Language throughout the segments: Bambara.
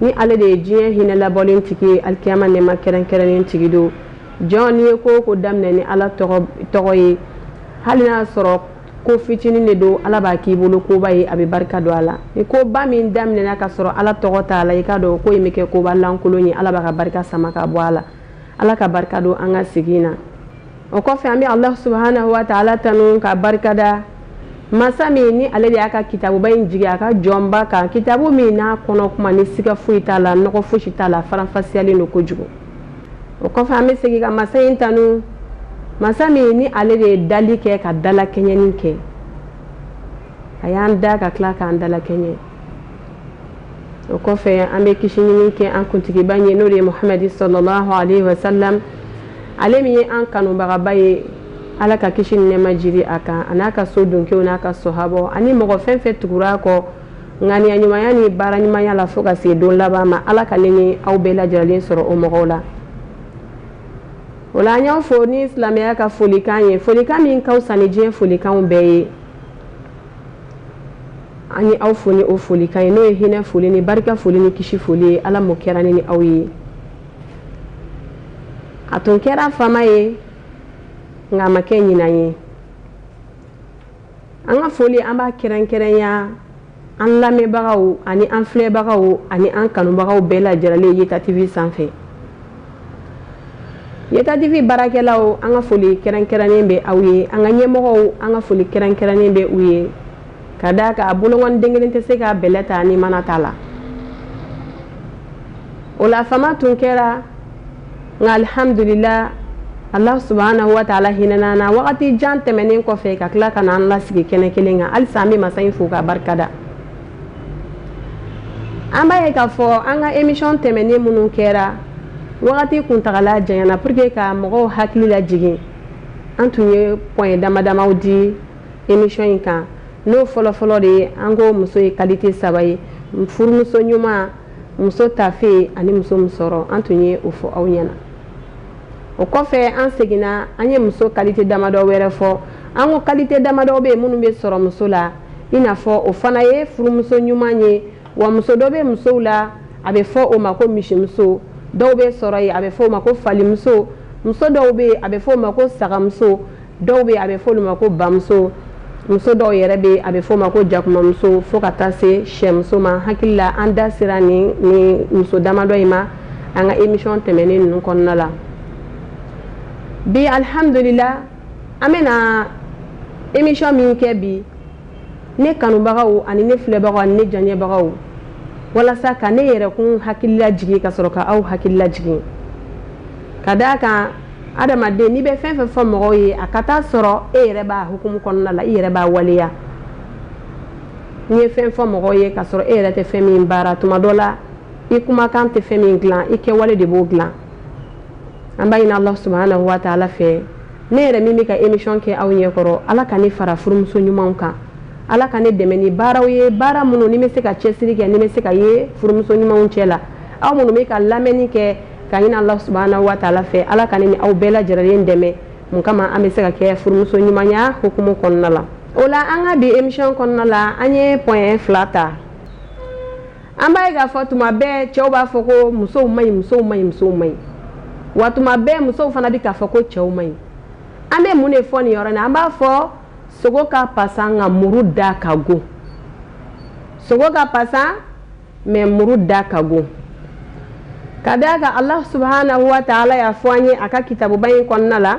ni ale de ye diɲɛ hinɛ labɔlen tigi ye alikiyama nɛɛma kɛrɛnkɛrɛnnen tigi don jɔn n'i ye ko o ko daminɛ ni ala tɔgɔ ye hali n'a y'a sɔrɔ ko fitinin de don ala b'a k'i bolo koba ye a bɛ barika don a la ni koba min daminɛna ka sɔrɔ ala tɔgɔ t'a la i k'a dɔn ko in bɛ kɛ koba lankolon ye ala b'a ka barika sama ka bɔ a la ala ka barika don an ka sigi in na o kɔfɛ an bɛ alahu subahanahu wa taala tanu k'a barikada masa min ni ale de y'a ka kitabuba in jigi a ka jɔnba kan kitabu min n'a kɔnɔ kuma ni siga foyi t'a la nɔgɔ fosi t'a la faranfasiyalen don kojugu o kɔfɛ an bɛ segin ka masa in tanu masa min ni ale de ye dali kɛ ka dalakɛɲɛni kɛ a y'an da ka tila k'an dalakɛɲɛ o kɔfɛ an bɛ kisi ɲini kɛ an kuntigiba ye n'o de ye muhamadi salalahu alayhi wa sallam ale min ye an kanubagaba ye ala ka kisi ni nɛɛma jigi a kan a n'a ka so donkow n'a ka sahabaw ani mɔgɔ fɛn fɛn tugura a kɔ ŋaniya ɲumanya ni baara ɲumanya la fo ka se don laban ma ala ka ne ni aw bɛɛ lajɛlen sɔrɔ o mɔgɔw la o la an y'aw fo ni silamɛya ka folikan ye folikan min ka fisa ni diɲɛ folikanw bɛɛ ye an ye aw fo ni o folikan ye n'o ye hinɛ foli ni barika foli ni kisi foli ye ala m'o kɛra ne ni aw ye a tun kɛra fama ye nka a ma kɛ ɲina ye an ka foli an b'a kɛrɛnkɛrɛnya an lamɛnbagaw ani an filɛbagaw ani an kanubagaw bɛɛ lajɛlen yeta tv sanfɛ Yeta TV baarakɛlaw an ka foli kɛrɛnkɛrɛnnen bɛ aw ye, an ka ɲɛmɔgɔw an ka foli kɛrɛnkɛrɛnnen bɛ u ye, ka d'a kan bolokɔni den kelen tɛ se ka bɛlɛ ta ni mana t'a la, o la fama tun kɛra, nka alihamudulila Alahu subahana wataala hinɛna an na wagati jan tɛmɛnen kɔfɛ ka tila ka na an lasigi kɛnɛ kelen kan, halisa an bɛ masa in fo k'a barikada. an b'a ye k'a fɔ an ka emisɔn tɛmɛnen minnu kɛra wagati kuntagala janyana pour que ka mɔgɔw hakili lajigin an tun ye point dama damaw di emisɔn in kan n'o fɔlɔfɔlɔ de ye an ko muso ye kalite saba ye furumuso ɲuman muso tafe ani muso musɔrɔ an tun ye o fɔ aw ɲɛna o kɔfɛ an seginna an ye muso kalite damadɔ wɛrɛ fɔ an ko kalite damadɔ bɛ yen minnu bɛ sɔrɔ muso la i n'a fɔ o fana ye furumuso ɲuman ye wa muso dɔ bɛ musow la a bɛ fɔ o ma ko misimuso dɔw bɛ sɔrɔ yen a bɛ fɔ o ma ko falimuso muso dɔw bɛ yen a bɛ fɔ o ma ko sagamuso dɔw bɛ yen a bɛ fɔ olu ma ko bamuso muso dɔw yɛrɛ bɛ a bɛ fɔ o ma ko jakumamuso fo ka taa se sɛmuso ma hakili la an da sera nin nin muso damadɔ in ma an ka emisɔn tɛmɛnen ninnu kɔnɔna la bi alihamdulila an bɛna emission min kɛ bi ne kanubagaw ani ne filɛbagaw ani ne lajɛbagaw walasa ka ne yɛrɛkun hakilila jigin ka sɔrɔ ka aw hakilila jigin ka d'a kan adamaden n'i bɛ fɛn fɛn fɔ mɔgɔw ye a ka taa sɔrɔ e yɛrɛ b'a hukumu kɔnɔna la i yɛrɛ b'a waleya n'i ye fɛn fɔ mɔgɔw ye ka sɔrɔ e yɛrɛ tɛ fɛn min baara tuma dɔ la i kumakan tɛ fɛn min dilan i kɛwale de b'o dilan an b'a ɲini ala subahana wa taala fɛ ne yɛrɛ min bɛ ka emission kɛ aw ɲɛkɔrɔ ala ka ne fara furumuso ɲumanw kan ala ka ne dɛmɛ ni baaraw ye baara minnu ne bɛ se ka cɛsiri kɛ ne bɛ se ka ye furumuso ɲumanw cɛ la aw minnu bɛ ka lamɛnni kɛ ka ɲini ala subahana wa taala fɛ ala ka ne ni aw bɛɛ lajɛlen dɛmɛ mun kama an bɛ se ka kɛ furumuso ɲumanya hukumu kɔnɔna la o la an ka bi emission kɔnɔna la an ye point fila ta an b'a ye k'a fɔ tuma bɛɛ cɛw b'a fɔ ko musow man ɲi musow man ɲi musow man ɲi wa tuma bɛɛ musow fana bɛ k'a fɔ ko cɛw man ɲi an bɛ mun de fɔ nin yɔrɔ in na an b'a fɔ sogo ka pasan nka muru da ka go sogo ka pasan mɛ muru da ka go ka d'a kan alahu subahanahu wa taala y'a fɔ an ye a ka kitabuba in kɔnɔna la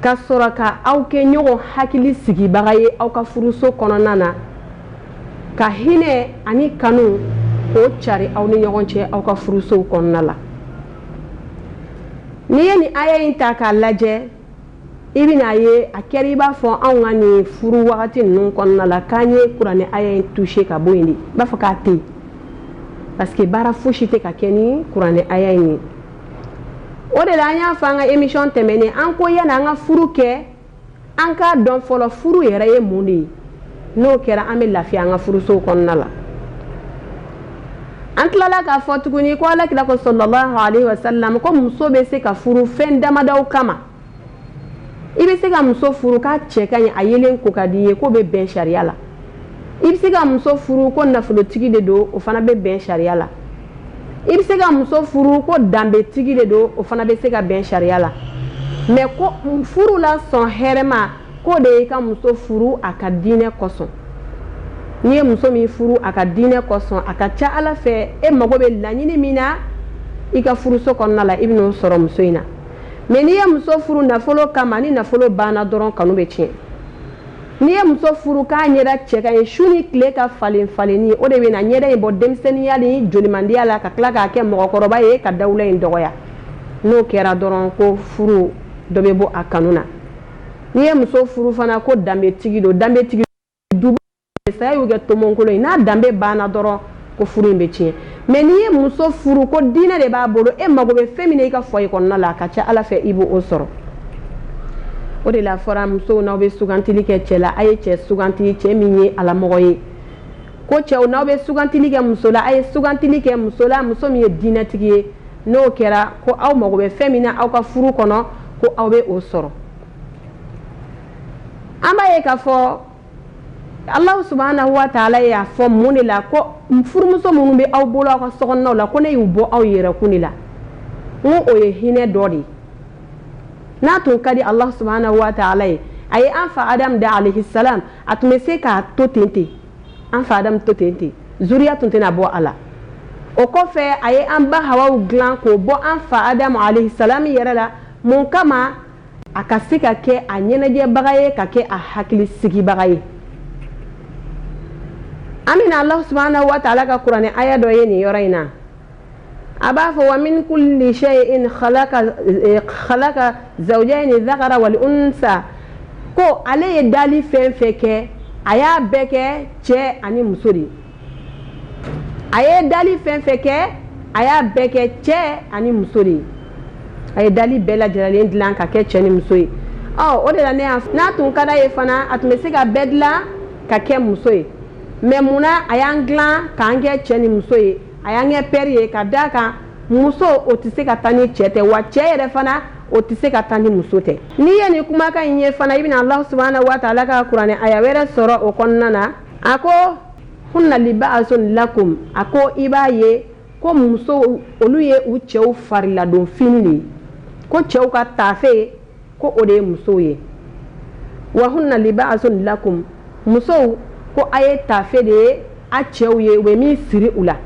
ka sɔrɔ ka aw kɛ ɲɔgɔn hakili sigibaga ye aw ka furuso kɔnɔna na ka hinɛ ani kanu k'o cari aw ni ɲɔgɔn cɛ aw ka furusow kɔnɔna la n'i ye nin aya in ta k'a lajɛ i bɛna a ye a kɛra i b'a fɔ anw ka nin furu wagati ninnu kɔnɔna la k'an ye kuranɛ aya in touché ka bɔ yen de i b'a fɔ k'a tɛ yen parce que baara fosi tɛ ka kɛ ni kuranɛ aya in ye o de la an y'a fɔ an ka emission tɛmɛnen an ko yanni an ka furu kɛ an k'a dɔn fɔlɔ furu yɛrɛ ye mun de ye n'o kɛra an bɛ lafiya an ka furusow kɔnɔna la an tilala k'a fɔ tuguni ko alakira ko salalahu alehi wasalam ko muso bɛ se ka furu fɛn damadaw kama i bɛ se ka muso furu k'a cɛ ka ɲi a yelen ko ka di i ye k'o bɛ bɛn sariya la i bɛ se ka muso furu ko nafolotigi de don o fana bɛ bɛn sariya la i bɛ se ka muso furu ko danbetigi de don o fana bɛ se ka bɛn sariya la mɛ ko furu la sɔn hɛrɛma k'o de y'i ka muso furu a ka diinɛ kosɔn n'i ye muso min furu a ka diinɛ kosɔn a ka ca ala fɛ e mago bɛ laɲini min na i ka furuso kɔnɔna la i bɛn'o sɔrɔ muso in na mɛ n'i ye muso furu nafolo kama ni nafolo banna dɔrɔn kanu bɛ tiɲɛ n'i ye muso furu k'a ɲɛda cɛ ka ɲi su ni tile ka falen falenni o de bɛna ɲɛda in bɔ denmisɛnninya ni jolimandiya la ka tila k'a kɛ mɔgɔkɔrɔba ye ka dawula in dɔgɔya n'o kɛra dɔrɔn ko furu dɔ bɛ bɔ a kanu na n'i ye muso furu fana ko danbetigi don danbetigi duba saya y'u kɛ tomonkolon ye n'a danbe banna dɔrɔn ko furu in bɛ tiɲɛ mɛ n'i ye muso furu ko diinɛ de b'a bolo e mago bɛ fɛn min na i ka foyer kɔnɔna la a ka ca ala fɛ i b'o sɔrɔ o de la a fɔra musow n'aw bɛ sugantili kɛ cɛ la a ye cɛ suganti cɛ min ye alamɔgɔ ye ko cɛw n'aw bɛ sugantili kɛ muso la a ye sugantili kɛ muso la muso min ye diinɛtigi ye n'o kɛra ko aw mago bɛ fɛn min na aw ka furu kɔnɔ ko aw bɛ o sɔrɔ an b'a ye k'a fɔ alahu subahana wa taala y'a fɔ mun de la ko furumuso minnu bɛ aw bolo aw ka so la ko ne y'u bɔ aw yɛrɛkun de la ko o ye hinɛ dɔ de ye n'a tun ka di alahu subahana wa taala ye a ye an fa adamu da alehi salamu a tun bɛ se k'a to ten ten an fa adamu to ten ten zuriya tun tɛna bɔ a la o kɔfɛ a ye an ba hawa dilan k'o bɔ an fa adamu alehi salamu yɛrɛ la mun kama a ka se ka kɛ a ɲɛnajɛbaga ye ka kɛ a hakili sigibaga ye an bɛna alahu subahana wa taala ka kuranɛ aya dɔ ye nin yɔrɔ in na a b'a fɔ wa min kuli shayin khalaka eh, zawujayini zakara wal unsa ko ale ye dali fɛn fɛn kɛ a y'a bɛɛ kɛ cɛ ani muso de ye a ye dali fɛn fɛn kɛ a y'a bɛɛ kɛ cɛ ani muso de ye a ye dali bɛɛ lajɛlen dilan ka kɛ cɛ ni muso ye ɔ o de la ne y'a n'a tun ka d'a ye fana a tun bɛ se ka bɛɛ dilan ka kɛ muso ye mɛ mun na a y'an dilan k'an kɛ cɛ ni muso ye a y'an kɛ pɛri ye ka d'a kan muso o tɛ se ka taa ni cɛ tɛ wa cɛ yɛrɛ fana o tɛ se ka taa ni muso tɛ n'i ye nin kumakan in ye fana i bɛna alahu subahana wa taala ka kuranɛ aya wɛrɛ sɔrɔ o kɔnɔna na a ko hunna libaasun lakum a ko i b'a ye ko musow olu ye u cɛw fariladon fini de ye ko cɛw ka taafe ko o de ye musow ye wa hunna libaasun lakum musow ko a ye taafe de ye a cɛw ye u bɛ min siri u la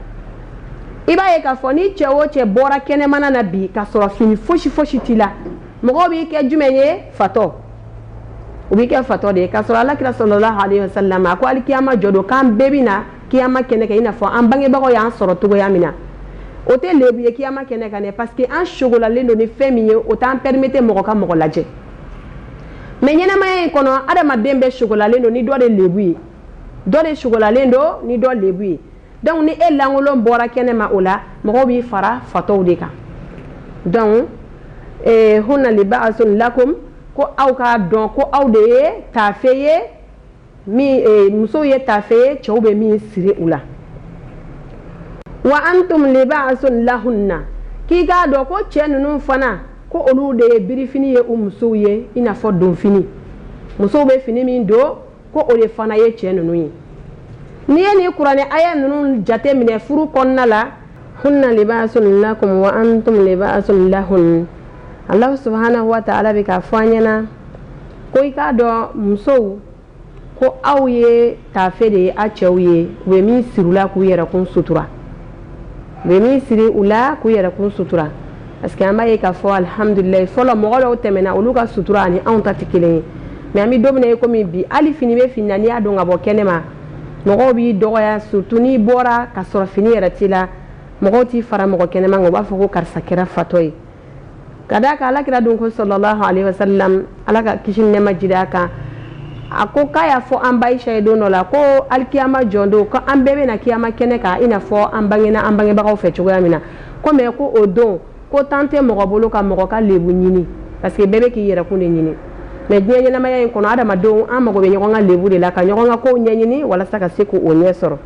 i b'a ye k'a fɔ ni cɛ o cɛ bɔra kɛnɛmana na bi ka sɔrɔ fini fosi fosi t'i la mɔgɔw b'i kɛ jumɛn ye fatɔ u b'i kɛ fatɔ de ye k'a sɔrɔ ala kira salalahu alehi wa salamu a ko hali kiyama jɔ don k'an bɛɛ bɛ na kiyama kɛnɛ kan i n'a fɔ an bangebagaw y'an sɔrɔ cogoya min na o tɛ lebu ye kiyama kɛnɛ kan dɛ parce que an sogolalen don ni fɛn min ye o t'an pɛrimete mɔgɔ ka mɔgɔ lajɛ mɛ ɲɛnamaya in kɔnɔ adamaden bɛɛ sogolalen don ni dɔ de lebu ye dɔ de sogolalen don ni dɔ lebu ye dɔnku ni e lankolon bɔra kɛnɛ ma o la mɔgɔw b'i fara fatɔw de kan dɔnku eh, hunna libaasun lakum ko aw k'a dɔn ko aw de ye taafe ye min eh, musow ye taafe ye cɛw bɛ min siri u la wa antum libaasun lahunna k'i k'a dɔn ko cɛ ninnu fana ko olu de ye birifini ye u musow ye i n'a fɔ donfini musow bɛ fini min don ko o de fana ye cɛ ninnu ye n'i ye nin kuranɛ aya ninnu jate minɛ furu kɔnɔna la hunna libaasun lakum wa antum libaasun lahun alahu subhanahu wa taala bɛ k'a fɔ an ɲɛna ko i k'a dɔn musow ko aw ye taafe de ye aw cɛw ye u bɛ min siri u la k'u yɛrɛkun sutura bɛ min siri u la k'u yɛrɛkun sutura parce que an b'a ye k'a fɔ alihamdulilayi fɔlɔ mɔgɔ dɔw tɛmɛna olu ka sutura ani anw ta tɛ kelen ye mɛ an bɛ don min na i komi bi hali fini bɛ fini na n'i y'a don ka bɔ kɛnɛ ma mɔgɔw b'i dɔgɔya surtout n'i bɔra ka sɔrɔ fini yɛrɛ t'i la mɔgɔw t'i fara mɔgɔ kɛnɛman kan u b'a fɔ ko karisa kɛra fatɔ ye ka d'a kan ala kira don ko sallallahu alaihi wasallam ala ka kisi nɛɛma jigi a kan a ko k'a y'a fɔ an ba Ayisa ye don dɔ la ko alikiyama jɔ don ko an bɛɛ bɛ na kiyama kɛnɛ kan i n'a fɔ an bangena an bangebagaw fɛ cogoya min na ko mɛ ko o don ko tan tɛ mɔgɔ bolo ka mɔgɔ ka lebu ɲini parce que bɛɛ bɛ k'i yɛrɛkun de ɲini mɛ diɲɛ ɲɛnamaya in kɔnɔ adamadenw an mago bɛ ɲɔgɔn ka lebu de la ka ɲɔgɔn ka kow ɲɛɲini walasa ka se k'o ɲɛ sɔrɔ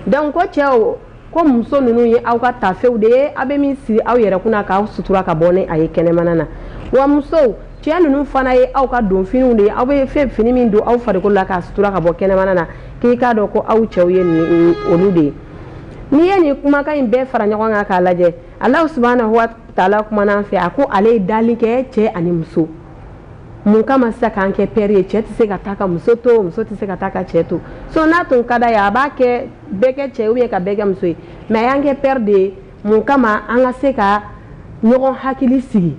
donc ko cɛw ko muso ninnu ye aw ka tafew de ye aw bɛ min siri aw yɛrɛ kunna k'aw sutura ka bɔ ni aw ye kɛnɛmana na wa musow cɛ ninnu fana ye aw ka donfiniw de ye aw bɛ fɛn fini min don aw farikolo la k'a sutura ka bɔ kɛnɛmana na k'i k'a dɔn ko aw cɛw ye nin olu de ye n'i ye nin kumakan in bɛɛ fara ɲɔgɔn kan k'a lajɛ alahu subhanahu wa taala kumana an fɛ a ko ale ye dali kɛ cɛ ani muso mun kama sisan k'an kɛ pɛri ye cɛ tɛ se ka taa ka muso to muso tɛ se ka taa ka cɛ to so n'a tun ka d'a ye a b'a kɛ bɛɛ kɛ cɛ ye ou bien ka bɛɛ kɛ muso ye mɛ a y'an kɛ pɛre de ye mun kama an ka se ka ɲɔgɔn hakili sigi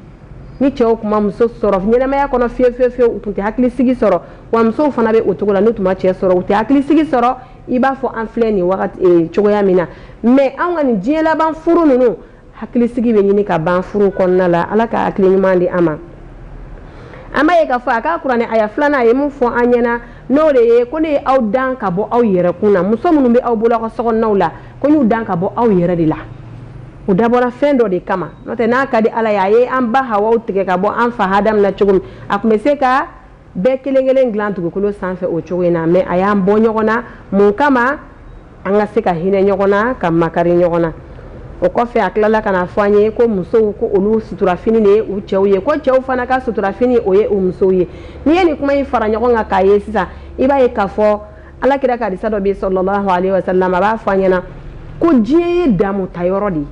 ni cɛw tun ma muso sɔrɔ ɲɛnamaya kɔnɔ fiye fiye fiye u tun tɛ hakili sigi sɔrɔ wa musow fana bɛ o cogo la n'u tun ma cɛ sɔrɔ u tɛ hakili sigi sɔrɔ i b'a fɔ an filɛ nin cogoya min na mɛ an ka nin diɲɛ laban furu ninnu hakilisigi bɛ ɲini ka ban furu kɔnɔna la ala ka hakili ɲuman di an ma an b'a ye k'a fɔ a ka kuranɛ aya filanan a ye min fɔ an ɲɛna n'o de ye ko ne ye aw dan ka bɔ aw yɛrɛ kun na muso minnu bɛ aw bolo aw ka sokɔnɔnaw la ko n y'u dan ka bɔ aw yɛrɛ de la u dabɔra fɛn dɔ de kama n'o tɛ n'a ka di ala ye a ye an ba hawa tigɛ ka bɔ an fa hadamu na cogo min a tun bɛ se ka bɛɛ kelen kelen dilan dugukolo sanfɛ o cogo in na mɛ a y'an bɔ ɲɔgɔn na mun kama an ka se ka hinɛ ɲɔgɔn na ka makari ɲɔgɔn na o kɔfɛ a tilala ka n'a fɔ an ye ko musow ko olu suturafini de ye u cɛw ye ko cɛw fana ka suturafini o ye u musow ye n'i ye nin kuma in fara ɲɔgɔn kan k'a ye sisan i b'a ye k'a fɔ ala kira ka hadisa dɔ bɛ sallallahu alayhi wa sallam a b'a fɔ an ɲɛna ko diɲɛ ye damu ta yɔrɔ de ye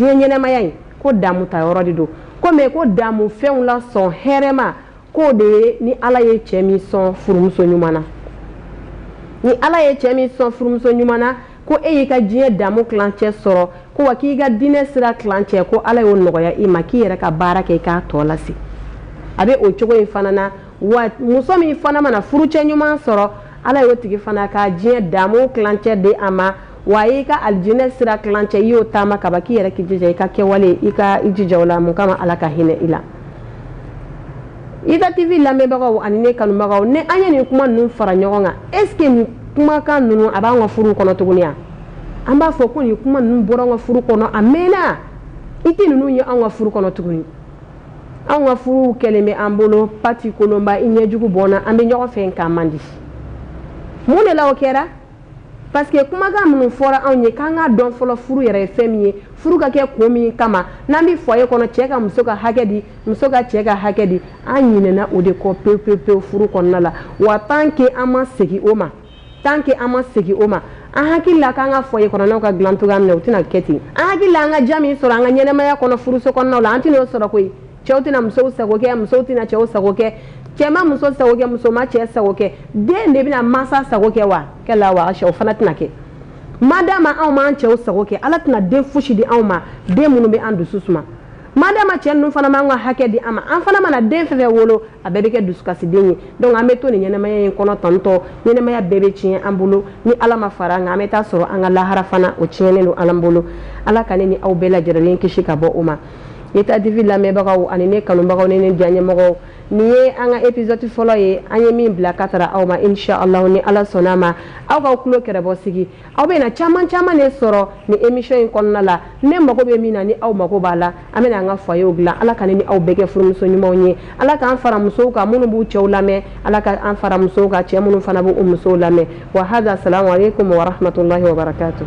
diɲɛ ɲɛnamaya in ko damu ta yɔrɔ de don ko mɛ ko damu fɛnw la fɛn hɛrɛma k'o de ye ni ala ye cɛ min sɔn furumuso ɲuman na ni ala ye cɛ min sɔn furumuso ɲuman na ko e y'i ka diɲɛ daamu tilancɛ sɔrɔ ko wa k'i ka diinɛ sira tilancɛ ko ala y'o nɔgɔya i ma k'i yɛrɛ ka baara kɛ i k'a tɔ lase a bɛ o cogo in fana na wa muso min fana mana furucɛ ɲuman sɔrɔ ala y'o tigi fana ka diɲɛ daamu tilancɛ di a ma wa a y'i ka alijinɛ sira tilancɛ i y'o taama kaban k'i yɛrɛ k'i jija i ka kɛwale i ka i jija o la min kama ala ka hinɛ i la ita tv lamɛnbagaw ani ne kanubagaw ne an ye nin kuma ninnu fara ɲɔgɔn kan est ce que nin kumakan ninnu a b'an ka furu kɔnɔ tuguni ya an b'a fɔ ko nin kuma ninnu bɔra an ka furu kɔnɔ a mɛnna i tɛ ninnu ye an ka furu kɔnɔ tuguni an ka furuw kɛlen bɛ an bolo pati kolonba i ɲɛjugu bɔnna an bɛ ɲɔgɔn fɛ k'a man di mun de la o kɛra parce que kumakan minnu fɔra anw ye k'an ka dɔn fɔlɔ furu yɛrɛ ye fɛn min ye furu ka kɛ ko min kama n'an bɛ foyer kɔnɔ cɛ ka muso ka hakɛ di muso ka cɛ ka hakɛ di an ɲinɛna o de kɔ pewu pewu pewu furu kɔnɔna la wa tant que an ma segin o ma tant que an ma segin o ma an hakili la k'an ka foyer kɔnɔnaw ka dilan cogoya min na o tɛna kɛ ten an hakili la an ka diya min sɔrɔ an ka ɲɛnamaya kɔnɔ furuso kɔnɔnaw la an tɛna o sɔrɔ koyi cɛw tɛna musow sago kɛ musow tɛna cɛw sago kɛ cɛ ma muso sago kɛ muso ma cɛ sago kɛ den de bɛna mansa sago kɛ wa kɛ la wa o fana tɛna kɛ ma d'a ma anw m'an cɛw sago kɛ ala tɛna den fosi di anw ma den minnu bɛ an dusu suma ma d'a ma cɛ ninnu fana m'an ka hakɛ di an ma an fana mana den fɛn fɛn wolo a bɛɛ bɛ kɛ dusukasiden ye donc an bɛ to nin ɲɛnamaya in kɔnɔ tantɔ ɲɛnamaya bɛɛ bɛ tiɲɛ an bolo ni ala ma fara an kan an bɛ taa sɔrɔ an ka lahara fana o tiɲɛnen don an bolo ala ka ne ni aw bɛɛ lajɛrɛlen kisi ka bɔ o ma Etat TV lamɛnbagaw ani ne kanubagaw ni ne diyaɲɛmɔgɔw nin ye an ka épisode fɔlɔ ye an ye min bila ka tara aw ma inchallahu ni Ala sɔnna a ma aw k'aw tulo kɛrɛbɔ sigi aw bɛna caman caman de sɔrɔ nin émission in kɔnɔna la ne mago bɛ min na ni aw mago b'a la an bɛna an ka foyerw dilan Ala ka ne ni aw bɛɛ kɛ furumuso ɲumanw ye Ala k'an fara musow kan minnu b'u cɛw lamɛn Ala ka an fara musow kan cɛ minnu fana b'u musow lamɛn wa hadha salamu aleykum wa rahmatulahi wa barakatuh